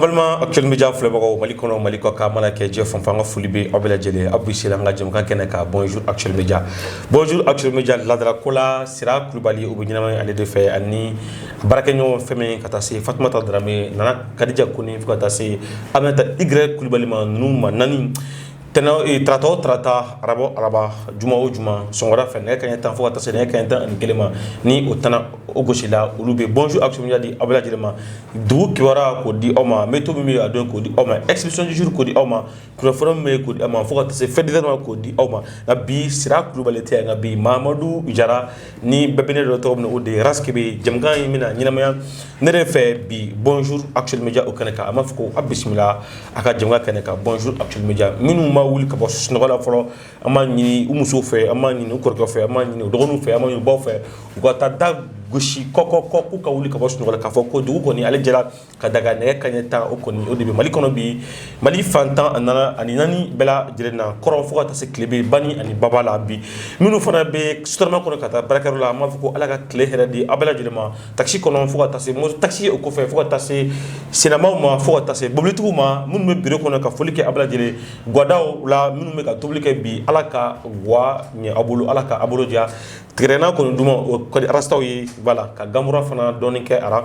balima actuel média filɛbagaw mali kɔnɔ mali kɔkan mana kɛ diɲɛ fan o fan an ka foli bɛ aw bɛɛ lajɛlen aw bisimila an ka jɛmukan kɛnɛ kan bonjour actuel média bonjour actuel média laadalako la sira kulubali o bɛ ɲɛnamaya ale de fɛ ani baarakɛɲɔgɔn fɛn min ka taa se Fatumata Darame Nana Kadija Kone fo ka taa se Aminata Y Kulibali ma ninnu maa naani tɛnɛ o ee tarata o tarata araba o araba juma o juma sɔgɔmada fɛ nɛgɛ kaɲɛ tan fo ka taa se nɛgɛ kaɲɛ tan ani kelen ma ni o tan o gosila olu bɛ bonjour actuel média di aw bɛɛ lajɛlen ma dugu kibaruya k'o di aw ma meteo min bɛ yen a don k'o di aw ma expression du jour k'o di aw ma kunnafoni min bɛ yen k'o di aw ma fo ka taa se faits divers ma k'o di aw ma nka bi sira kulubali tɛ yan nka bi mamadu jara ni bɛɛ bɛ ne dɔn tɔgɔ min o de ye ras kebe jɛmukan in bɛna ɲɛnamaya ne de fɛ bi bonjour actuel média o kɛnɛ kan an b'a fɔ ko aw bisimila aw ka jɛmukan kɛnɛ kan bonjour actuel média minnu ma wuli ka bɔ sunɔgɔ la fɔlɔ an b'a ɲini u musow fɛ an b'a ɲini u kɔrɔkɛ fɛ an b'a ɲini u dɔgɔninw fɛ an b'a ɲini u baw fɛ u ka taa da gosi kɔ kɔ kɔ k'u ka wuli ka bɔ sunɔgɔ la k'a fɔ ko dugu kɔni ale jɛra ka d'a kan nɛgɛ kaɲɛ tan o kɔni o de bɛ mali kɔnɔ bi mali fan tan a nana ani naani bɛɛ lajɛlen na kɔrɔn fo ka taa se tilebin bani ani baba la bi minnu fana bɛ sotrama kɔnɔ ka taa baarakɛyɔrɔ la an b'a fɔ ko ala ka tile hɛrɛ di aw bɛɛ lajɛlen ma taxi kɔnɔ fo ka taa se moto taxi o kɔfɛ fo ka taa se sennamaaw ma fo ka taa se mobilitigiw ma minnu bɛ biro kɔnɔ ka foli kɛ aw bɛɛ lajɛlen gadaw la minnu bɛ ka tobili kɛ bi ala ka ga ɲɛ aw bolo ala ka aw bolo diya Tigadɛgɛna kɔni duman o ka di rastaw ye voilà ka ganfura fana dɔɔnin kɛ a ra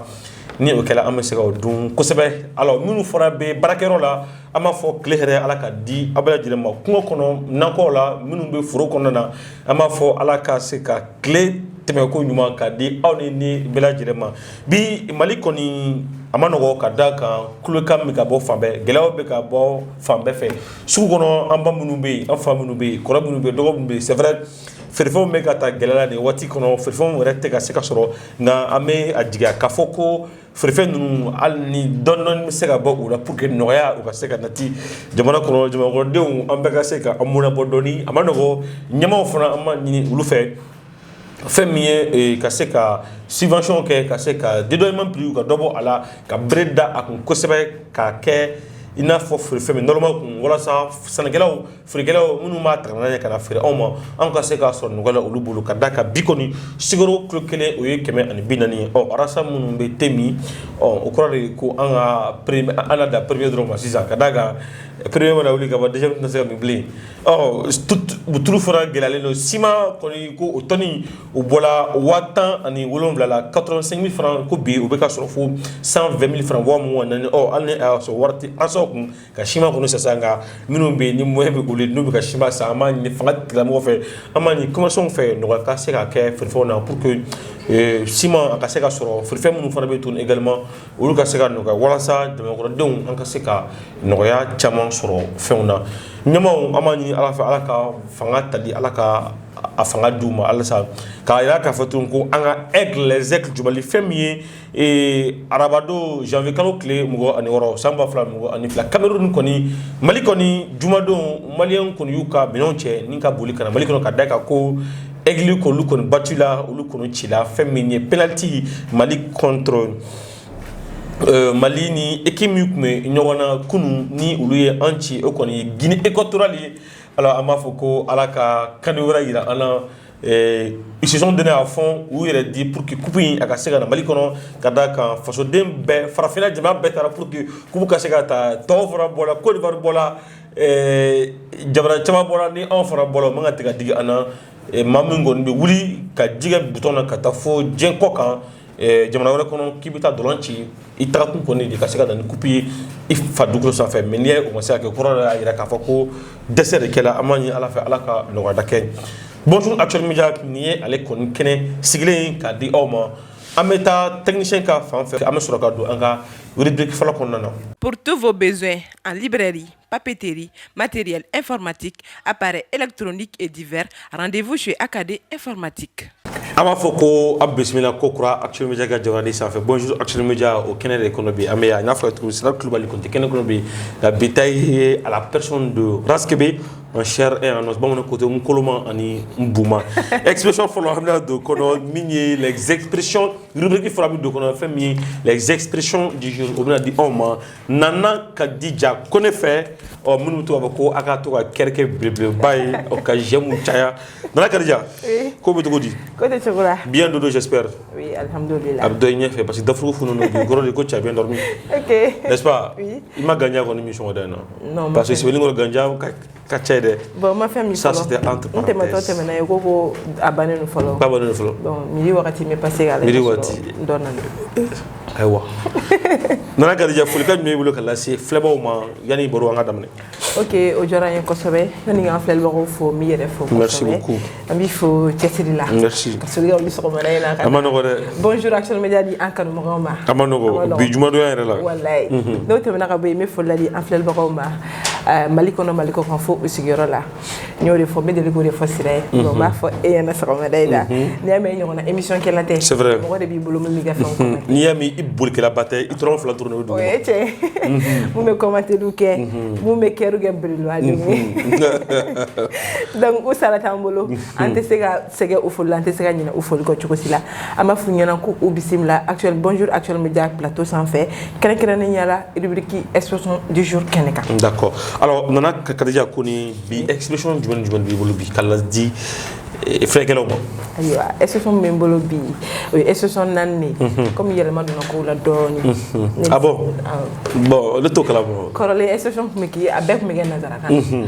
ni o kɛla an bɛ se ka o dun kosɛbɛ alors minnu fana bɛ baarakɛyɔrɔ la an b'a fɔ tile hɛrɛ Ala ka di aw bɛɛ lajɛlen ma kungo kɔnɔ nakɔw la minnu bɛ foro kɔnɔna na an b'a fɔ Ala ka se ka tile tɛmɛnko ɲuman ka di aw ninnu bɛɛ lajɛlen ma bi Mali kɔni a man nɔgɔn ka d'a kan kulekan bɛ ka bɔ fan bɛɛ gɛlɛyaw bɛ ka bɔ fan bɛɛ fɛ sugu kɔnɔ an ba minnu bɛ yen an fa minnu bɛ yen kɔrɔ minnu bɛ yen dɔgɔ minnu bɛ yen c'est vrai feerefɛnw bɛ ka taa gɛlɛya la nin waati kɔnɔ feerefɛnw yɛrɛ tɛ ka se ka sɔrɔ nka an bɛ a jigiya k'a fɔ ko feerefɛn ninnu hali ni dɔɔni bɛ se ka bɔ u la pour que nɔgɔya o ka se ka nati jamana kɔnɔ jamanakɔnɔdenw an bɛɛ ka se ka an mɔnɛbɔ dɔɔni a man nɔgɔ ɲɛmaaw fana an b'a ɲini olu fɛ fɛn min ye ka se ka subvention kɛ ka se ka dédommagement prix ka dɔ bɔ a la ka bere da a kun kosɛbɛ ka kɛ i n'a fɔ feerefɛn min normal kun walasa sannikɛlaw feerekɛlaw minnu b'a tagana ye ka na feere anw ma anw ka se k'a sɔrɔ nɔgɔya la olu bolo ka d'a kan bi kɔni sukaro kilo kelen o ye kɛmɛ ani bi naani ye ɔ an rasta minnu bɛ te min ɔ o kɔrɔ de ko an ka premier an na dan premier dɔrɔn ma sisan ka d'a kan premier mana wuli ka ban deuxième tɛna se ka min bilen ɔ tulu fana gɛlɛyalen don siman kɔni ko o tɔni o bɔla waa tan ani wolonwula la 85 mille francs ko bi o bɛ ka sɔrɔ fo 120 mille francs waa mugan naani ɔ hali ni a y'a sɔrɔ wari tɛ rastaw kun ka sima kɔnɔ sisan ka minnu bɛ ni mɔ bɛ boli n'u bɛ ka sima san an b'a ɲini fanga tilamɔgɔ fɛ an b'a ɲini commerçants fɛ nɔgɔya ka se ka kɛ fɛnfɛw na pour que sima a ka se ka sɔrɔ fɛn minnu fana bɛ tun également olu ka se ka nɔgɔya walasa jamanakɔrɔdenw an ka se ka nɔgɔya caman sɔrɔ fɛnw na ɲaw an b'a ɲini ala fɛ ala ka fanga tali ala ka a fanga di u ma alasa k'a jira k'a fɔ tun ko an ka les Aigles du Mali fɛn min ye ee arabadon janvier kalo tile mugan ani wɔɔrɔ san ba fila mugan ani fila cameroun kɔni mali kɔni jumadon maliyɛn kɔni y'u ka minɛnw cɛ ni ka boli ka na mali kɔnɔ ka d'a kan ko Aigles k'olu kɔni batula olu kɔni cila fɛn min ye penaliti mali contre Euh, mali ni équipe min tun bɛ ɲɔgɔn na kunun ni olu ye an ci o kɔni ye guinée équatoriale ye alors an b'a fɔ ko ala ka CAN wɛrɛ yira an na ils se sont donnés à fond u yɛrɛ di pour que coupe in a ka se ka na Mali kɔnɔ ka d'a kan fasoden bɛɛ farafinna jamana bɛɛ taara pour que coupe ka se ka ta tɔw fana bɔla Cote d'Ivoire bɔla jamana caman bɔla ni anw fana bɔla u man kan tigɛ ka digi an na maa min kɔni bɛ wuli ka ji kɛ bouton na ka taa fo diɲɛ kɔkan jamana wɛrɛ kɔnɔ k'i bɛ taa ntolan ci i tagakun kɔni de ka se ka na ni kupi ye i fa dugukolo sanfɛ mais n'i y'a ye o ma se ka kɛ kɔrɔ y'a jira k'a fɔ ko dɛsɛ de kɛla an b'a ɲini ala fɛ ala ka nɔgɔyada kɛ bonjour Actuel Media nin ye ale kɔni kɛnɛ sigilen in k'a di aw ma an bɛ taa technicien ka fan fɛ an bɛ sɔrɔ ka don an ka rubrique fɔlɔ kɔnɔna na pour tous vos besoins en librairie papeterie, matériel informatique, appareil électronique et divers. Rendez-vous chez AKD Informatique. An b'a fɔ ko a bisimila kokura Actuel Media ka jabaranin sanfɛ bonjour Actuel Media o kɛnɛ de kɔnɔ bi an bɛ yan n'a fɔra cogo min Siraba Kulubali Konte kɛnɛ kɔnɔ bi nka bi ta ye à la personne de Raskebe en chair et en os bamananw ko ten n koloma ani n buma expression fɔlɔ an bɛna don kɔnɔ min ye les expressions rubrique fɔlɔ an bɛ don kɔnɔ fɛn min ye les expressions du jour o bɛna di anw ma nana kadija kone fɛ ɔ minnu tɔgɔ bɛ ko a ka to ka kɛrɛkɛ belebeleba ye ɔ ka jɛmu caya nana kadija ko bɛ cogo di ko tɛ cogo la bien dodo j'espère oui alhamdulillah a bɛ dɔn i ɲɛ fɛ parce que dafurugu funu don o kɔrɔ de ko t'as bien dormi ok n'est-ce pas i ma ganja kɔni min sɔgɔmada in na parce que sebenikɔrɔ ganja ka ka ca dɛ bon ma famille ça c'était entre parenthèses n tɛmɛtɔ tɛmɛna yen ko ko a bannen don fɔlɔ ba bannen don fɔlɔ donc midi wagati n bɛ passer ka lajɛ midi wagati dɔ nana ayiwa nana kadija folikan jumɛn b'i bolo ka lase filɛbaaw ma yanni baro in ka daminɛ ok o diyara n ye kosɛbɛ yanni n ka filɛlibagaw fo n b'i yɛrɛ fo kosɛbɛ merci beaucoup an b'i fo cɛsiri la merci ka soli ka wuli sɔgɔmada in na ka a ma nɔgɔ dɛ bonjour actuel média di an kanubagaw ma a ma nɔgɔ bi jumadonya yɛrɛ la walayi n'o tɛmɛna ka bɔ yen n bɛ foli ladi an filɛlibagaw ma eh, mali kɔnɔ mali kɔ kan fo u sigiyɔrɔ la n y'o de fɔ n bɛ deli k'o de fɔ sira ye n b'a fɔ e ɲɛna sɔgɔmada in na n'i y'a mɛn i ɲɔgɔnna émission kɛla tɛ C'est vrai. mɔgɔ de b'i bolo min b'i ka fɛnw kɔnɔ n'i y'a mɛn i bolikɛlaba tɛ i tɔrɔn fila turunnen o o dugu ye cɛ min bɛ kɔmantɛliw kɛ min bɛ kɛriw kɛ biriluwa de ye donc u sara t'an bolo an tɛ se ka sɛgɛ u foli la an tɛ se ka ɲinɛ u foli kɔ cogo si la an b'a f'u ɲɛna ko u bisimila actuel bonjour actuel média plateau sanfɛ kɛrɛnkɛrɛnnenya la rubrique expression du jour kɛnɛ kan d'accord alors nana kadija ko ni bi expression jumɛn ni jumɛn b'i bolo bi ka ladi eh, filɛkɛlaw ma ayiwa expression min bɛ n bolo bi o ye expression naani de ye comme yɛlɛma donna kow la dɔɔni Ne- ah bon awɔ. bon ne t'o kalama kɔrɔlen expression tun bɛ kɛ a bɛɛ tun bɛ kɛ nansarakan na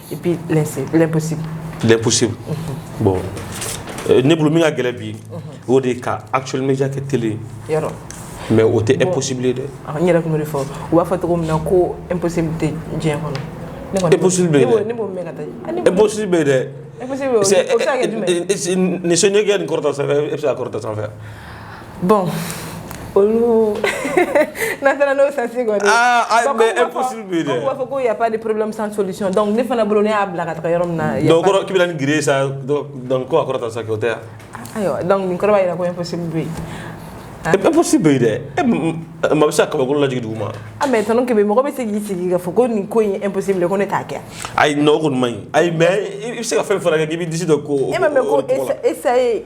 et puis l'impossible l'impossible mhm. bon euh, ne bolo min ka gɛlɛ bi o de ka actuel média kɛ télé yɔrɔ mais o tɛ impossible ye dɛ ah, n yɛrɛ tun b'o de fɔ u b'a fɔ cogo min na ko impossible tɛ diɲɛ kɔnɔ impossible bɛ yen dɛ ne b'o mɛn ka taa impossible bɛ yen dɛ impossible o bɛ se ka kɛ jumɛn ye ni sɔnni kɛ nin kɔrɔta sanfɛ e bɛ se ka kɔrɔta sanfɛ bon olu n'a taara n'o sens kɔni b'a fɔ ko y a pas de problème sans solution donc ne fana bolo ne y'a bila ka taga yɔrɔ min na donc ko k'i bɛna ni gere sa donc ko a kɔrɔta sa k'o tɛ yan ayiwa donc nin kɔrɔ b'a jira ko impossible bɛ yen impossible bɛ yen dɛ maa bɛ se ka kabakolo lajigin dugu ma ah mais tonton Kebe mɔgɔ bɛ se k'i sigi k'a fɔ ko nin ko in impossible ko ne t'a kɛ ayi non o kɔni man ɲi ayi mais i bɛ se ka fɛn fana kɛ k'i b'i disi don ko e ma mɛn ko essayer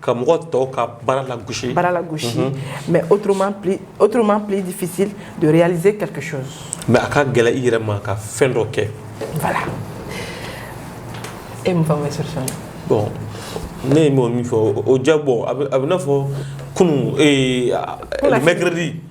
ka mɔgɔ tɔw ka baara lagosi baara lagosi mhm. mais autrement plus autrement plus difficile de réaliser quelque chose mais a ka gɛlɛ i yɛrɛ ma ka fɛn dɔ kɛ voilà e mun fɔ bɛ solution na bon ne ye min fɔ o ja bɔ a b'i n'a fɔ kunun ee mercredi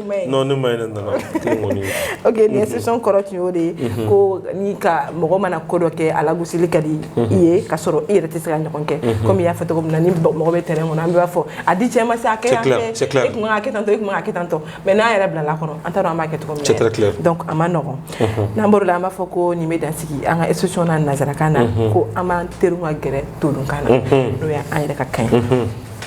kɔrɔ tun y'o de ye ko n ka mɔgɔ mana ko dɔ kɛ a lagosili ka di i ye ka sɔrɔ i yɛrɛ tɛ se k'a ɲɔgɔn kɛ kɔmi y'a fɔ cogo min na ni mɔgɔ bɛ terrain kɔnɔ an b'a fɔ a di cɛ ma sa kɛ tan tɔ mais n'an yɛrɛ bilala kɔnɔ an taara an b' kɛ a ma nɔgɔ n'an la an b'a fɔ ko nin bɛ dan sigi an ka expression na nansarakan na ko an b'an tɛrun ka gɛrɛ todunkan na n'o y'an yɛrɛ ka kan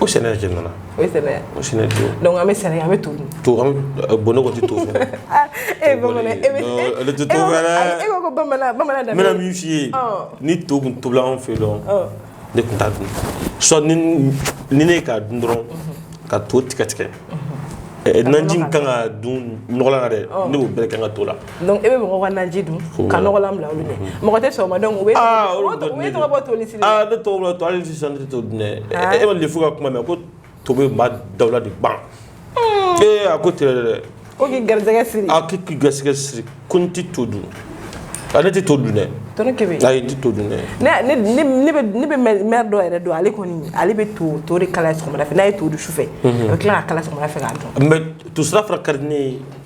O sɛnɛ jɛ nana o sɛnɛ donc an bɛ sɛnɛ an bɛ to to bon nɔgɔ tɛ to e e ko bamanan min f'i ye ni to tun tobila an fɛ don ne tun t'a dun sɔ ni ne k'a dun dɔrɔn ka to tigɛ tigɛ naji kan k'a dun nɔgɔlan dɛ ne b'o bɛɛ kɛ n ka to la donc e bɛ mɔgɔ ka naji dun ka nɔgɔlan bila olu ɲɛ mɔgɔ tɛ sɔgɔma donc u bɛ tɔgɔ bɔ toli sili la ne tɔgɔ bɔ toli sili sa ne tɛ to dun dɛ e ma lefu ka kuma mɛn ko to bɛ maa dawula de ban ee a ko tigɛ dɛ ko k'i garisɛgɛ siri a k'i k'i garisɛgɛ siri ko n tɛ to dun a ne tɛ to dun dɛ tɔnɔ kebe ayi n tɛ to dun dɛ ne ne ne bɛ ne bɛ mɛri dɔ yɛrɛ dɔn ale kɔni ale bɛ to tɔ de kala sɔgɔmada fɛ n'a ye to dun sufɛ a bɛ tila k'a kala sɔgɔmada fɛ k'a dun mais to sira fana ka di ne ye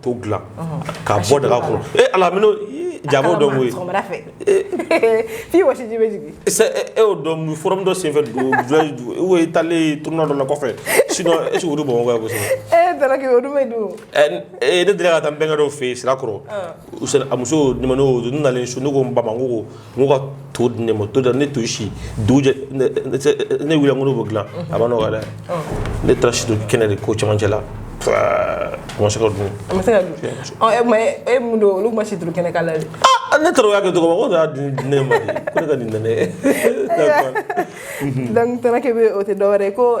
To dilan ka bɔ daga kɔnɔ e ala jabɔ dɔ ye fi wa o don forum dɔ senfɛ duuru talen t dɔ la kɔfɛ sinon bamakɔ kosɛbɛ e da don e ne delila ka taa bɛnkɛ dɔ fɛ yen sirakɔrɔ a muso nimɔgɔ dɔ nalen sun ne ko bamakɔ n ko ka to di ne ma to da ne to si dujɛ ne wilila n ko b'o dilan a ma nɔgɔ dɛ ne taara si turu kɛnɛ de k'o camancɛ la ma se k'a dun ma se k'a dun e mun don olu ma si turu kɛnɛ k'a la dɛ ne taara o y'a kɛ tɔgɔ ma ko y'a di ne ma de ko ne ka nin nɛnɛ donc tana kɛ bɛ o tɛ dɔwɛrɛ ko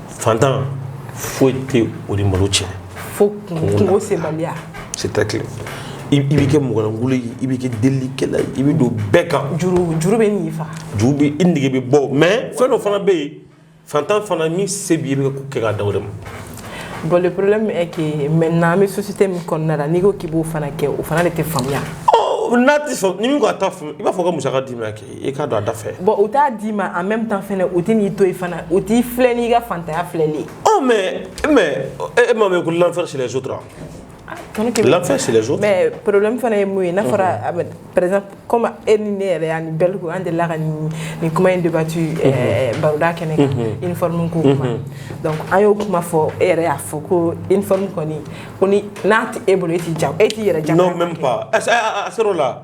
fantan foyi tɛ o ni malo cɛ fo kunko sebaliya c'est très clair i bɛ kɛ mɔgɔlankolon ye i bɛ kɛ delikɛla ye i bɛ don bɛɛ kan juru juru bɛ nin fa juru bɛ i nege bɛ bɔ mais fɛn dɔ fana bɛ yen fantan fana min se b'i ye i bɛ ko kɛ k'a dan o de ma bon le problème est que maintenant an bɛ société min kɔnɔna la n'i ko k'i b'o fana kɛ o fana de tɛ faamuya n'a tɛ sɔn ni min ko a t'a faamu i b'a fɔ ka musaka d'i ma kɛ i ka don a da fɛ bon u t'a d'i ma en même temps fana u tɛ n'i to yen fana u t'i filɛ n'i ka fantanya filɛli ye ɔ mais mais e ma mɛn ko l'enfer c'est les autres l'enfer c'est les autres mais problème fana ye mun ye n'a fɔra a bɛ par exemple comme e ni ne yɛrɛ ani Bɛlko an delila ka nin nin kuma in débattu baroda kɛnɛ kan uniforme ko kuma donc an y'o kuma fɔ e yɛrɛ y'a fɔ ko uniforme kɔni kɔni n'a tɛ e bolo e t'i jago e t'i yɛrɛ jago non même pas a sera o la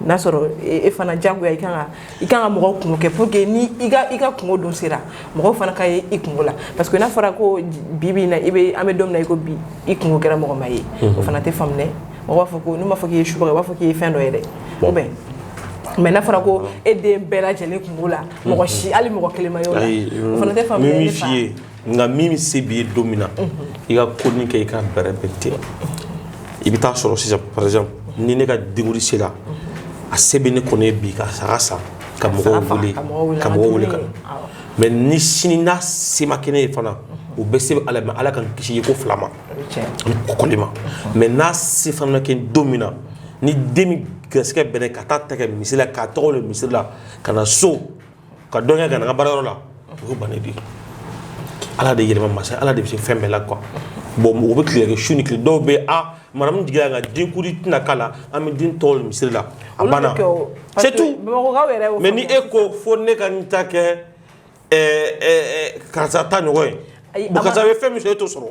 n'a sɔrɔ e, e fana jagoya i kan ka i kan ka mɔgɔw kunko kɛ pour que ni i ka i ka kunko don sera mɔgɔw fana ka ye i kunko la parce que n'a fɔra ko bi bi in na i bɛ an bɛ don min na i ko bi i kunko kɛra mɔgɔ ma ye o fana tɛ faamu dɛ mɔgɔ b'a fɔ ko n'u m'a fɔ k'i ye subaga u b'a fɔ k'i ye fɛn dɔ ye dɛ ou bien mais n'a fɔra ko e den bɛɛ lajɛlen kunko la mɔgɔ si hali mɔgɔ kelen ma y'o la o fana tɛ faamu dɛ nka min se b'i ye don min na i ka ko nin kɛ i ka bɛrɛ bɛn ten i bɛ taa sɔrɔ sisan par exemple ni ne ka denkundi sera a se bɛ ne kɔni ye bi ka saga san ka mɔgɔw wele ka mɔgɔw wele ka na mais ni sini n'a se ma kɛ ne ye fana u bɛ se ala mais ala k'an kisi ye ko fila ma ani kɔkɔli ma mais n'a se fana ma kɛ don min na ni den min garisɛgɛ bɛn ne ka taa a ta kɛ misiri la k'a tɔgɔ le misiri la ka na so ka dɔn kɛ ka na n ka baarayɔrɔ la o ban di ala de yɛlɛma masa ala de bɛ se fɛn bɛɛ la quoi bon mɔgɔ bɛ tile su ni tile dɔw bɛ a mara min jiginla ka denkundi tɛna k'a la an bɛ den tɔgɔ da misiri la a banna c'est tout mais ni e ko fo ne ka nin ta kɛ karisa ta ɲɔgɔn ye karisa ye fɛn min e t'o sɔrɔ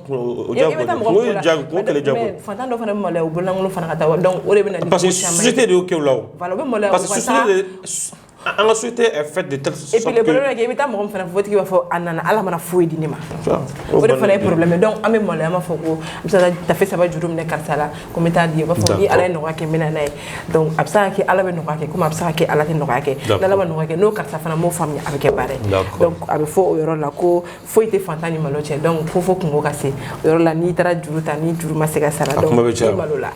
Fantan dɔ fana malo bolo fana ka taa o de bɛ parce que société de y'o kɛ la an ka société fɛ de i bɛ taa mɔgɔ fana fo a tigi b'a fɔ a nana ala ma na foyi di ne ma o de fana ye problème donc an bɛ maloya ma fɔ ko tafe saba juru minɛ karisa la ko bɛ taa di b'a fɔ ni ala ye nɔgɔya kɛ n bɛ na n'a ye a bɛ se ka kɛ ala bɛ nɔgɔya kɛ a bɛ se ka kɛ ala tɛ nɔgɔya kɛ ala nɔgɔya kɛ n'o karisa fana b'o faamuya a bɛ kɛ baara a bɛ fɔ o yɔrɔ la ko foyi tɛ fantan ni malo cɛ donc ko fo kunko ka se o yɔrɔ la n'i taara juru ta ni juru ma se ka sara donc i malo la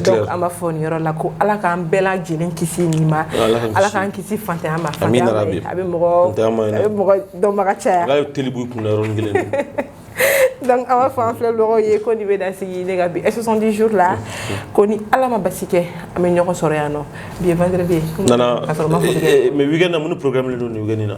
donc an b'a fɔ nin yɔrɔ la ko ala k'an bɛɛ lajɛlen kisi nin ma ala k'an kisi fantanya ma fantanya a bɛ mɔgɔ a bɛ mɔgɔ dɔnbaga caya ala ye teli b'i kun na yɔrɔnin kelen donc an b'a fɔ an filɛbagaw ye ko nin bɛ dan sigi ne ka bi 70 jours la ko ni ala ma basi kɛ an bɛ ɲɔgɔn sɔrɔ yan nɔ bi ye vendredi ye nana mais weekend na mun ni programme de don nin weekend na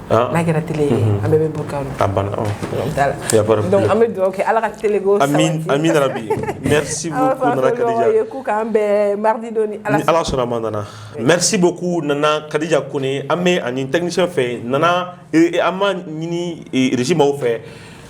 Ah. n'a kɛra télé ye an bɛɛ bɛ bɔ kan a banna ɔ Voilà. y a pas de problème. donc an bɛ dugawu kɛ ala ka telego Amin, Amin Rabi. Merci beaucoup, Nana Khadija. ye ko k'an bɛn mardi don ni ala ni ala sɔnna a ma nana merci beaucoup nana kadija kone an b'a ɲini technicien fɛ nana eh, eh, an b'a ɲini eh, régie mɔgɔw fɛ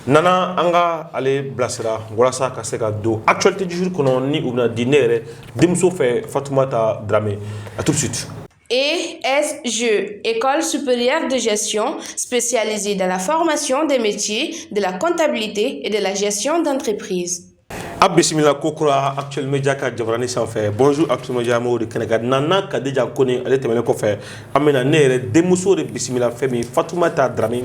nana an ka ale bilasira walasa ka se ka don actualité du jour kɔnɔ ni o bɛna di ne yɛrɛ denmuso fɛ fatumata drame à tout de suite ESG, École supérieure de gestion spécialisée dans la formation des métiers de la comptabilité et de la gestion d'entreprise. aw bisimila kokura actuel media ka jabarani sanfɛ bonjour actuel media mɔgɔw de kɛnɛ kan nana kadija kone ale tɛmɛnen kɔfɛ an bɛna ne yɛrɛ denmuso de bisimila fɛn min fatumata drame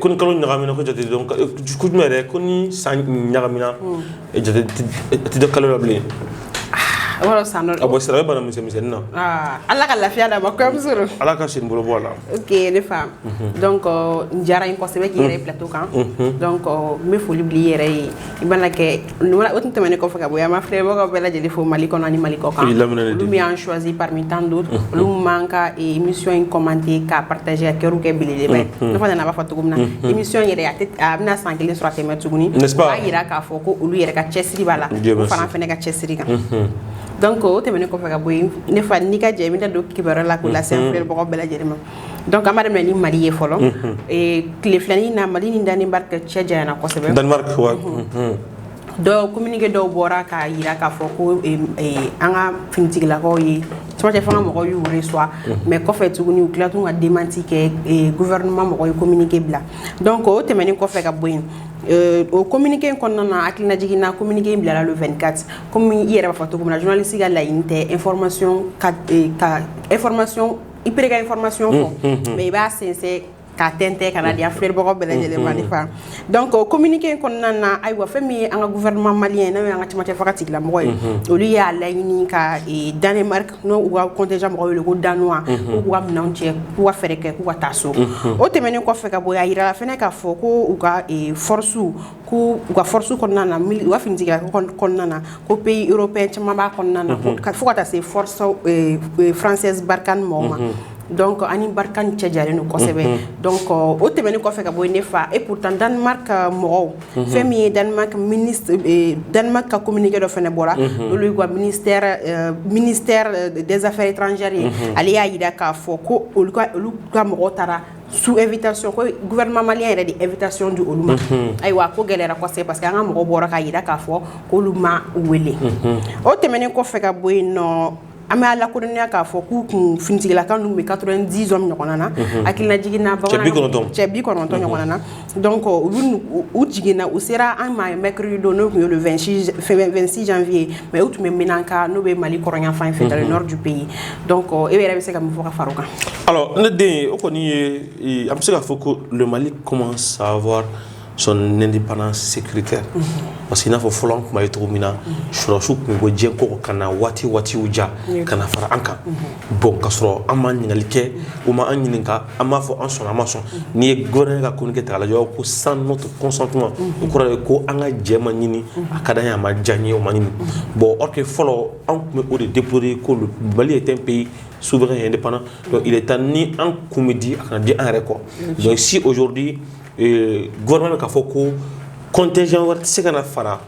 ko ni kalo ɲagamina ko jate donc ko jumɛn yɛrɛ ko ni san ɲagamina jate tɛ da kalo la bilen o yɔrɔ san dɔ a bɔ sira bɛ bana misɛn misɛnnin na Ah, ala ka lafiya d'a ma kɔrɔmuso don ala ka sen bolo bɔ a la ok ne fa donc a diyara n ye kosɛbɛ k'i yɛrɛ ye plateau kan donc n bɛ foli bila i yɛrɛ ye i mana kɛ o tun tɛmɛnen kɔfɛ ka bɔ yen an b'an filɛbagaw bɛɛ lajɛlen fo mali kɔnɔ ni mali kɔ kan olu min b'an choisi parmi tant d'autres olu b'an ka émission in commenter k'a partager ka cœur kɛ belebele ne fana nana b'a fɔ cogo min na émission yɛrɛ a bɛna san kelen sɔrɔ tɛmɛ tuguni b'a jira k'a fɔ ko olu yɛrɛ ka cɛsiri b'a la fana fana ka cɛsiri kan donc o tɛmɛnen kɔfɛ ka bɔ yen ne fa n'i ka jɛ i bɛna don kibaruya la k'u lase filɛbagaw bɛɛ lajɛlen ma dɔnku anba daminɛ ni mali ye fɔlɔ tile filanin na mali ni dan barika cɛ jan kosɛbɛ dɔw komge dɔw bɔra ka jira k'a fɔ ko an ka ftigilakaw ye camancɛ fana mɔgɔ y' wele s mɛ kɔfɛ tuguni u tilat ka denmanti kɛ gufama mɔgɔ ye komge bila dɔn ko o tɛmɛnen kɔfɛ ka bɔ yen o komge in kɔnɔna na a tiinaj na komge in bilala don2ikati kɔmi i yɛrɛ b'a fɔ cogo min na jsi ka layi tɛ efmasiy ka efmasɔn i pere ka information fɔ mm-hmm. mais i b'a sensɛn k'a tɛntɛn ka na di an mm-hmm. filɛbagaw bɛɛ lajɛlen ma mm-hmm. ne fa donc o communiqué in kɔnɔna na ayiwa fɛn min ye an ka gouvernement malien n'o ye an ka camancɛ fanga tigilamɔgɔ ye olu y'a laɲini ka e, danemark n'u ka contingent mɔgɔ wele ko danois k'u k'u ka minɛnw cɛ k'u ka fɛɛrɛ kɛ k'u ka taa so o tɛmɛnen kɔfɛ ka bɔ yen a yirala fɛnɛ k'a fɔ ko u ka e, force ko u ka forosi kɔnɔna na u b'a ftigikila kɔnɔna na ko pe yɔrɔ pe caman b'a kɔnɔna na ka fo ka taa se faransɛ barika ni mɔgɔw ma dɔn kɔ ani barika ni cɛ diyaralen don kosɛbɛ dɔn kɔ o tɛmɛn kɔfɛ ka bɔ ne faa e pta danma ka mɔgɔw fɛn min ye danma ka komkɛ dɔ fana bɔra olu ka dɛsɛzfɛ tranzri ye ale y'a jira k'a fɔ ko olu ka mɔgɔw taara sous invitation ko gouvernement malien yɛrɛ de invitation di olu ma ayiwa ko gɛlɛyara kosɛbɛ parce que an ka mɔgɔ bɔra k'a yira k'a fɔ ko olu ma wele o tɛmɛnen kɔfɛ ka bɔ yen nɔ an b'a lakodɔnniya k'a fɔ k'u kun finitigilaka ninnu bɛ 90 hommes ɲɔgɔn na a hakilila jiginna cɛ bi kɔnɔntɔn ɲɔgɔn na donc u jiginna u sera an ma mercredi don n'o tun ye le 26 janvier mais u tun bɛ ménaka n'o bɛ mali kɔrɔnyanfan fɛ dans le nord du pays donc e yɛrɛ bɛ se ka min fɔ ka fara o kan alors ne den o kɔni ye an bɛ se k'a fɔ ko le mali commence à avoir son indépendance sécuritaire parce que i n'a fɔ fɔlɔ an tun b'a ye cogo min na surasiw tun bɛ bɔ diɲɛ kɔkɔ ka na waati waati u diya ka na fara an kan bon ka sɔrɔ an ma ɲininkali kɛ u ma an ɲininka an b'a fɔ an sɔn an ma sɔn n'i ye gɛ ka kun kɛ ta lajɛ ko san to kɔsɔntuma o kɔrɔ ye ko an ka jɛ ma ɲini a ka da a ma diya ye o ma ɲini bɔn aw tɛ fɔlɔ an tun bɛ o de deporo ye ko bali ye tɛ pe ye su bɛ ye de panana i taa ni an kun bɛ di a ka di an yɛrɛ kɔ jɔn si ozodi gɛ bɛ k'a fɔ ko kɔnte wɛrɛ tɛ se ka na fara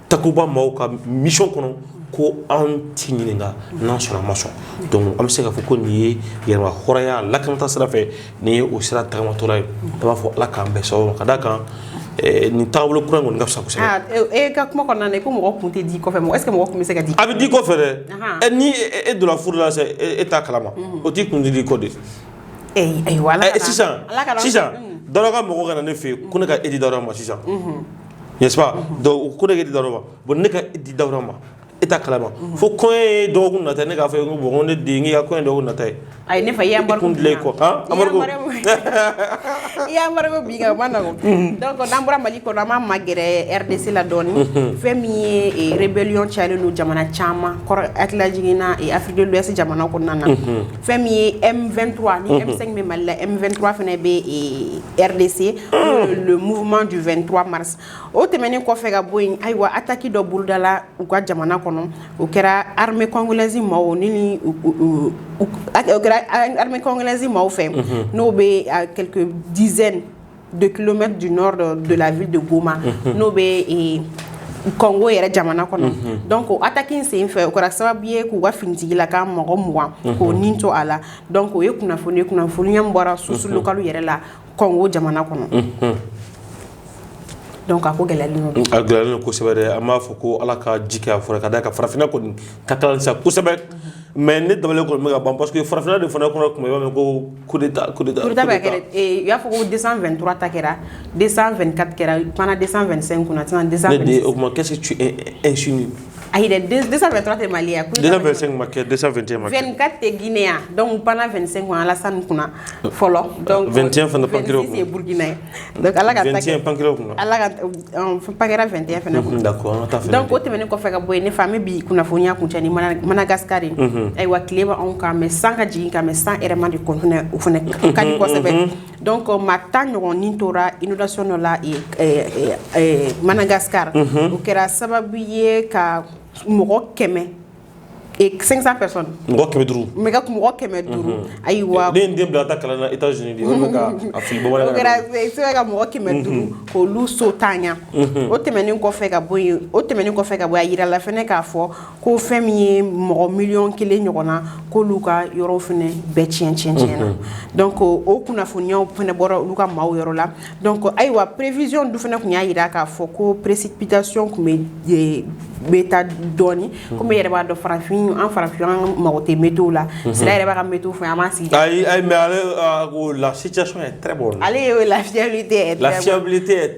takuba maaw ka mission kɔnɔ ko anw t'i ɲininka n'an sɔnna an ma sɔn donc an bɛ se k'a fɔ ko nin ye yɛrɛma hɔrɔnya lakanata sira fɛ nin ye o sira tagamatɔla ye an b'a fɔ ala k'an bɛn sababu ma ka d'a kan eh, nin taabolo kura in kɔni ka fisa kosɛbɛ Ah, e e ka kuma kɔnɔna na i ko mɔgɔ kun tɛ di kɔfɛ mɔgɔ est ce que mɔgɔ kun bɛ se ka di a bɛ di kɔfɛ dɛ Ahan. ɛ ni e- e donna furu la sɛ e e t'a kalama o t'i kun d'i kɔ de Ee, ayiwa ala Ɛ, kana- sisan ala kana- sisan Mm. dawura ka mɔgɔ ka na ne fɛ yen ko ne ka e di dawura ma sisan n'est-ce pas donc u ko de di dawrɔ bon ne ka di dawrɔ ma e t'a kalama fo kɔɲɔ ye dɔgɔkun nata ne k'a fɔ ye ko bon ne den k'i ka kɔɲɔ dɔgɔkun nata ye ayi ne fa i y'an baro kun dilan kɔ han amadu ko i y'an baro ko bi ka o ma nɔgɔn mhm. donc n'an bɔra mali kɔnɔ an b'an magɛrɛ rdc la dɔɔni mhm. fɛn min ye eh, rébellion cayalen don jamana caman kɔnɔ hakililajigin na eh, afrique de l'ouest jamana kɔnɔna na mhm. fɛn min ye m23 ni m5 bɛ mali la m23 fana bɛ eh, rdc le mouvement du 23 mars o tɛmɛnen kɔfɛ ka bɔ yen ayiwa ataki dɔ bolodala u ka jamana kɔnɔ o kɛra armée congolaise maaw ni armée congolaise maaw fɛ n'o bɛ à quelques dizaines de kilomètres du nord de la ville de Goma n'o bɛ e Congo yɛrɛ jamana kɔnɔ donc o attaque in sen fɛ o kɛra sababu ye k'u ka finitigilaka mɔgɔ mugan k'o ni to a la donc o ye kunnafoni ye kunnafoniya min bɔra source locale yɛrɛ la kɔngo jamana kɔnɔ donc a ko gɛlɛyalen don a gɛlɛyalen don kosɛbɛ dɛ an b'a fɔ ko ala ka ji kɛ a fɔra ka da ka farafinna kɔni ka kalan sa kosɛbɛ mais ne dabali kɔni bɛ ka ban parce que farafinna de fana kɔnɔ kuma i b'a mɛn ko coup d'état coup d'état coup d'état bɛ kɛ eh, u y'a fɔ ko 223 ta kɛra 224 kɛra panna 225 kunna sisan 226 o kuma qu'est-ce que tu insinues Ayi dɛ 223 tɛ Mali ye, 225 ma kɛ 221 ma kɛ, 24 tɛ Guinee ye wa, donc panna 25 o ye Alasani kunna fɔlɔ, donc 21 fana pan kɛra o kunna, 26 ye Burukina ye, donc Ala ka ta kɛ, 21 pan kɛra o kunna, Ala ka ta ɔ pan kɛra 21 fana kunna, unhun, d'accord an ka taa fɔli kɛ, donc o tɛmɛnen kɔfɛ ka bɔ yen ne fa n bɛ bi kunnafoniya kuncɛ ni Madagascar ye, unhun, ayiwa tile b'anw kan mais san ka jigin ka mais san hɛrɛma de kɔnɔna na o fana ka di kosɛbɛ, unhun, unhun Donc maa tan ɲɔgɔn ni tora inondation dɔ la Madagascar o kɛra sababu ye ka mɔgɔ kɛmɛ cinq cents personnes mɔgɔ kɛmɛ duuru mɔgɔ kɛmɛ duuru ayiwa ne den bila taa kalan na ka mɔgɔ kɛmɛ duuru k'olu so tanya o tɛmɛnen kɔfɛ ka bɔ yen o tɛmɛnen kɔfɛ ka bɔ yen a jirala fana k'a fɔ ko fɛn min ye mɔgɔ miliyɔn kelen ɲɔgɔn na k'olu ka yɔrɔ fana bɛɛ tiɲɛ tiɲɛna donc o kunnafoniyaw fana bɔra olu ka maaw yɔrɔ la donc ayiwa prévision dun fana tun y'a jira k'a fɔ ko précipitation tun bɛ taa dɔɔni komi yɛrɛ b'a dɔn farafin an farafin an mago tɛ météo la sira yɛrɛ b'a ka météo fɛ an ma sigi lasi ale ye lafiya tɛ lafiya tɛ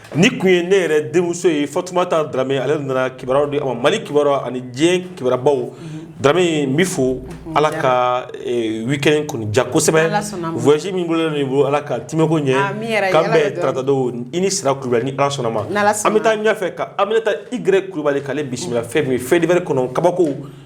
Nin tun ye ne yɛrɛ denmuso ye Fatumata Darame ale nana kibaruya di a ma mali kibaruya ani diɲɛ kibarubaw Darame n b'i fo ala ka weekend kɔni diya kosɛbɛ voyage min bolo nin bolo ala ka tɛmɛko ɲɛ k'an bɛn tarata don i ni sira kulubali ni ala sɔnna ma an bɛ taa ɲɛfɛ ka Aminata Y kulubali k'ale bisimila fɛn min ye faits divers kɔnɔ kabako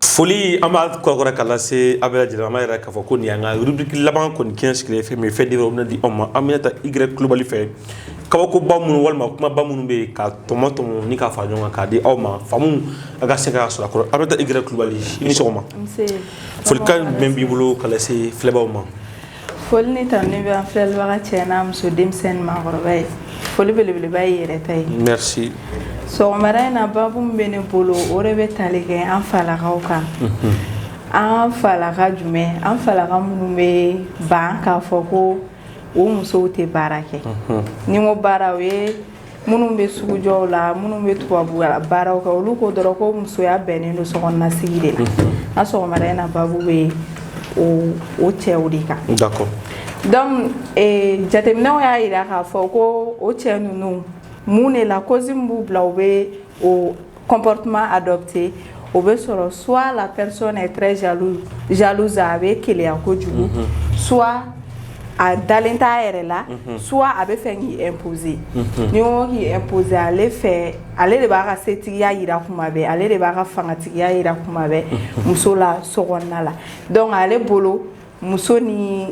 Foli an b'a kɔrɔkɔrɔ ka lase a bɛɛ lajɛlen ma yɛrɛ k'a fɔ ko nin y'an ka rubrique laban kɔni kɛ sigilen fɛn min faits divers bɛna di aw ma Aminata Y Kulubali fɛ kabakoba minnu walima kumaba minnu bɛ yen ka tɔmɔtɔmɔ ni k'a fara ɲɔgɔn kan k'a di aw ma faamu a ka se ka sɔrɔ a kɔrɔ Aminata Y Kulubali i ni sɔgɔma folikan jumɛn b'i bolo ka lase filɛbaw ma Foli ni tanuni bɛ an filɛlibaga cɛ n'a muso denmisɛn ni maakɔrɔba ye foli belebeleba y'i yɛrɛ ta ye sɔgɔmada in na baabu min bɛ ne bolo o de bɛ tali kɛ an falakaw kan an falaka jumɛn an falaka minnu bɛ ban k'a fɔ ko o musow tɛ baara kɛ ni n ko baara o ye minnu bɛ sugujɔw la minnu bɛ tubabu baaraw kɛ olu ko dɔrɔn ko musoya bɛnnen don sokɔnɔnasigi de la a sɔgɔmada in na baabu bɛ o cɛw de kan d'accord donc eh, jateminɛw y'a jira k'a fɔ ko o cɛ ninnu mun de la cause min b'u bila u bɛ o kɔnptuma a dɔ bɛ o bɛ sɔrɔ su la pɛresitaluz a bɛ keya ko kojugu su a dalen t' yɛrɛ la su a bɛ fɛ k' boze ni k'i boze ale fɛ ale de b'a ka setigiya jira kuma bɛɛ ale de b'a ka fangatigiya jira kuma bɛɛ muso la so la dɔnku ale bolo muso ni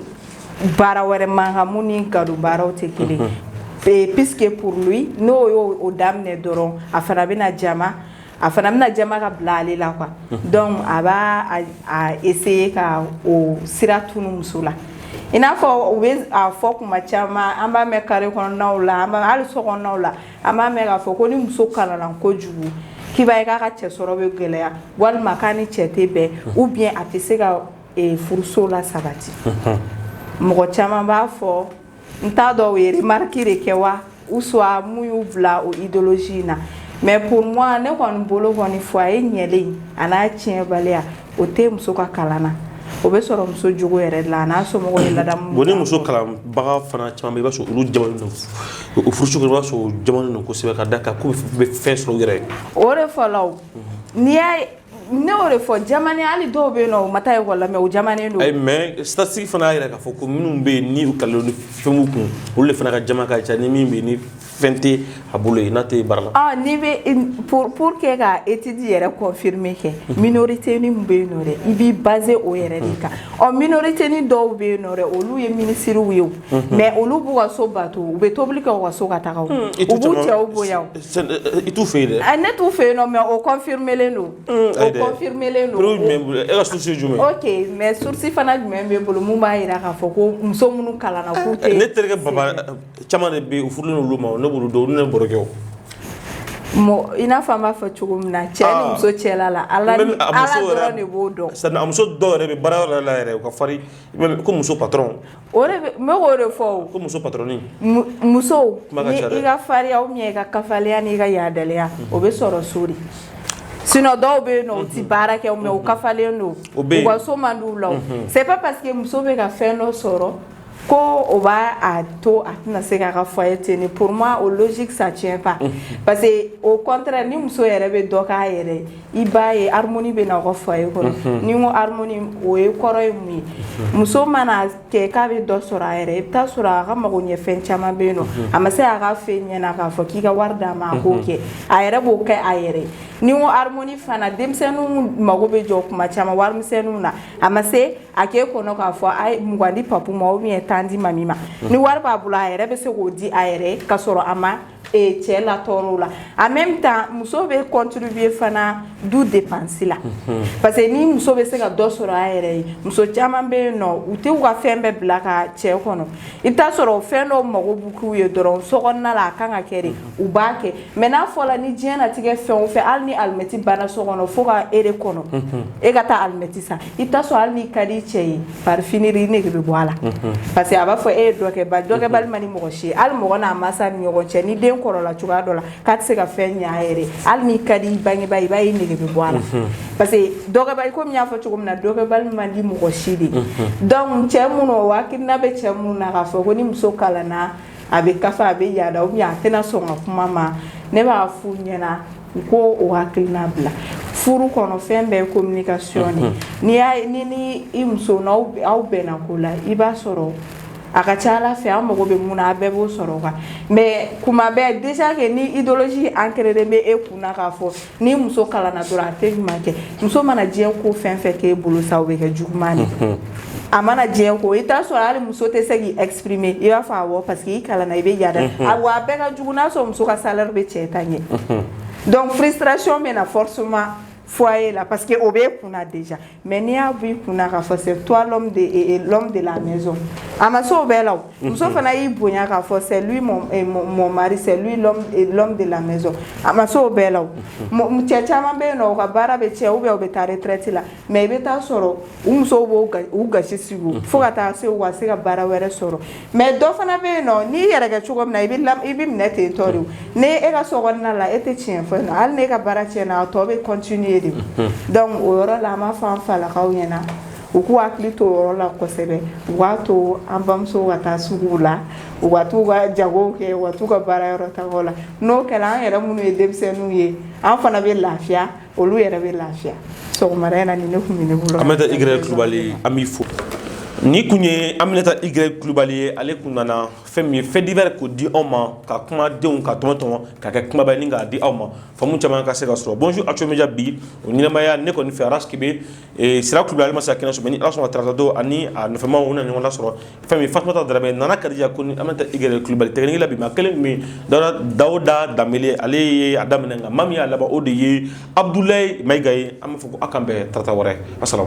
baara wɛrɛ man kan min ni gadon baaraw tɛ kelen mhm. eh, puisque pour lui n'o y'o o daminɛ dɔrɔn a fana bɛna jama a fana bɛna jama ka bila ale la quoi mhm. donc a b'a essayer ka o sira tunu muso la i n'a fɔ u bɛ a fɔ kuma caman an b'a mɛn carré kɔnɔnaw la an b'a hali so kɔnɔnaw la an b'a mɛn k'a fɔ ko ni muso kalanna kojugu k'i b'a ye k'a ka cɛ sɔrɔ bɛ gɛlɛya walima k'a ni cɛ tɛ bɛn mhm. ou bien a tɛ se ka ee furuso la sabati mɔgɔ caman b'a fɔ n t'a dɔn u ye remarque de kɛ wa ou soit mun y'u bila o idéologie in na mais pour moi ne kɔni bolo kɔni foyer ɲɛli an'a tiɲɛbaliya o tɛ muso ka kalan na o bɛ sɔrɔ muso jogo yɛrɛ de la a n'a somɔgɔw ye ladamu bon ni muso kalanbaga fana caman bɛ i b'a sɔrɔ olu jamanen don o furuso kɔnɔ i b'a sɔrɔ u jamanen don kosɛbɛ ka da kan k'u bɛ fɛn sɔrɔ u yɛrɛ ye o de fɔlɔ o n'i y'a ye ne y'o de fɔ jamani hali dɔw bɛ yen nɔ u ma taa ekɔli la mais u jamanen don. ayi mais statistique fana y'a jira k'a fɔ ko minnu bɛ yen ni u kalannen don ni fɛn b'u kun olu de fana ka jama ka ca ni min bɛ yen ni fɛn tɛ a bolo yen n'a tɛ baara la. ɔ n'i bɛ pour pour que ka étude yɛrɛ confirmer kɛ minorité ni min bɛ yen nɔ dɛ i b'i baser o yɛrɛ de kan ɔ minorité ni dɔw bɛ yen nɔ dɛ olu ye minisiriw ye o. mais olu b'u ka so bato u bɛ tobili kɛ ka so ka taa u b'u cɛw bonya i t'u fɛ yen dɛ ne t'u fɛ yen nɔ mais o confirmelen don confirmelen don ok mais source fana jumɛn b'e bolo min b'a jira k'a fɔ ko muso minnu kalanna ne terikɛ baba caman de bɛ yen u furulen olu ma ne bolo don ne barokɛ mɔgɔ i n'a fɔ an b'a fɔ cogo min na cɛ ni muso cɛ la ala dɔrɔn de b'o dɔn a muso dɔw yɛrɛ bɛ baara yɔrɔ la yɛrɛ u ka ko muso patron n bɛ k'o de fɔ ko muso patron muso i ka farinya ou bien i ka kafaliya ni i ka yaadaliya o bɛ sɔrɔ so de sinon dɔw bɛ yen nɔ u tɛ baara kɛ mais u kafalen don u ka so man d'u la c'est pas parce que muso bɛ ka fɛn dɔ sɔrɔ ko o b'a to a tɛna se k'a ka foyer tenir pour moi o logique ça tient pas parce que au contraire ni muso yɛrɛ bɛ dɔ k'a yɛrɛ ye i b'a ye harmonie bɛ na aw ka foyer kɔnɔ ni n ko harmonie o ye kɔrɔ ye mun ye muso mana kɛ k'a bɛ dɔ sɔrɔ a yɛrɛ i bɛ taa sɔrɔ a ka mago ɲɛ fɛn caman bɛ yen nɔ a ma se a ka f'e ɲɛna k'a fɔ k'i ka wari d'a ma a k'o kɛ a yɛrɛ b'o kɛ a yɛrɛ ni n ko harmonie fana denmisɛnninw mago bɛ jɔ kuma caman warimisɛnninw na a ma se a k'e kɔnɔ k'a fɔ a ye mugan di papu ma ou bien tan di mami ma ni wari b'a bolo a yɛrɛ bɛ se k'o di a yɛrɛ ka sɔrɔ a ma ee cɛ latɔɔrɔ o la en même temps muso bɛ contribuer fana du dépense la parce que ni muso bɛ se ka dɔ sɔrɔ a yɛrɛ ye muso caman bɛ yen nɔ u tɛ u ka fɛn bɛɛ bila ka cɛ kɔnɔ i bɛ taa sɔrɔ fɛn dɔw mago bɛ k'u ye dɔrɔn sokɔnɔna la a kan ka kɛ de u b'a kɛ mais n'a fɔra ni diɲɛlatigɛ fɛn o fɛn hali ni alimɛti banna so kɔnɔ fo ka e de kɔnɔ e ka taa alimɛti san i taa sɔrɔ hali n'i ka di cɛ ye par finir i nege bɛ bɔ a la mhm. parce que a b'a fɔ e ye dɔkɛba dɔkɛbali mhm. man di mɔgɔ si ye hali mɔgɔ n'a masa ni ɲɔgɔn cɛ ni den kɔrɔla cogoya dɔ la k'a tɛ se ka fɛn ɲɛ a yɛrɛ hali n'i ka di i bangebaa i b'a ye i nege bɛ bɔ a la mhm. parce que dɔkɛbali komi n y'a fɔ cogo min na dɔkɛbali man di mɔgɔ si de donc cɛ minnu o hakilina bɛ cɛ minnu na k'a fɔ ko ni muso kalanna a bɛ kafa a bɛ yaada ou bien a tɛna sɔn ka kuma ma ne b'a f'u ɲɛna U ko o hakilina bila furu kɔnɔ fɛn bɛɛ ye communication de n'i y'a ye ni ni i muso n'aw bɛnna ko la i b'a sɔrɔ a ka ca a la fɛn an mago bɛ mun na a bɛɛ b'o sɔrɔ o kan mais kuma bɛɛ déjà que ni idéologie ancréelen de bɛ e kunna k'a fɔ ni muso kalanna dɔrɔn a tɛ ɲuman kɛ muso mana diɲɛ ko fɛn fɛn k'e bolo sa o bɛ kɛ juguman de mhm. a mana diɲɛ ko i taa sɔrɔ hali muso tɛ se k'i exprimer i b'a fɔ awɔ parce que i kalanna i bɛ yaada mhm. a wa a bɛɛ ka jugu n'a sɔrɔ muso ka salaire bɛ cɛ ta ɲɛ mhm. donc frustration bɛ na forcément foyer la parce que o b'e kunna déjà mais n'i y'a b'i kunna k'a fɔ c'est toi l'homme de l'homme de la maison a ma se o bɛɛ la o muso fana y'i bonya k'a fɔ c'est lui mon, eh, mon, mon mari c'est lui l'homme eh, l'homme de la maison a ma se o bɛɛ la o cɛ caman bɛ yen nɔ u ka baara bɛ tiɲɛ ou bien u bɛ taa retraite la mais i bɛ taa sɔrɔ u musow b'u gasi sigi o fo ka taa se u ka se ka baara wɛrɛ sɔrɔ mais dɔ fana bɛ yen nɔ n'i yɛrɛ kɛ cogo min na i bɛ i bɛ minɛ ten tɔ de o ni e ka so kɔnɔna la e tɛ tiɲɛ fɔ yen nɔ hali n'e ka baara tiɲɛna a tɔ bɛ continuer de donc o yɔrɔ la an b'a fɔ an falakaw ɲɛna U k'u hakili to yɔrɔ la kosɛbɛ u k'a to an bamusow ka taa sugu la u ka t'u ka jagow kɛ u ka t'u ka baara yɔrɔ tagaw la n'o kɛra an yɛrɛ minnu ye denmisɛnninw ye an fana bɛ lafiya olu yɛrɛ bɛ lafiya sɔgɔmada in na nin de kun bɛ ne bolo Aminata Y Kulubali an b'i fo nin kun ye Aminata Y Kulubali ye ale kun nana fɛn min ye fait divers k'o di aw ma ka kumadenw ka tɔmɔ tɔmɔ ka kɛ kumaba ye ni k'a di aw ma faamu caman ka se ka sɔrɔ bonjour Actuel Media bi o ɲɛnamaya ne kɔni fɛ Ras Kebe sira tun ale masa sa kɛnɛ sɔrɔ aw sɔrɔ taaratɔdo ani nɔfɛma na ɲɔgɔn sɔrɔ fɛn min fatumatɔ da nana kadija ko an bɛ i yɛrɛ kubali tɛgɛ la bi ma kelen min dawuda da ale ye a daminɛ kan ma min y'a laban o de ye abudula mayika ye an bɛ fɔ aw kan bɛn tata wɛrɛ a sɔrɔ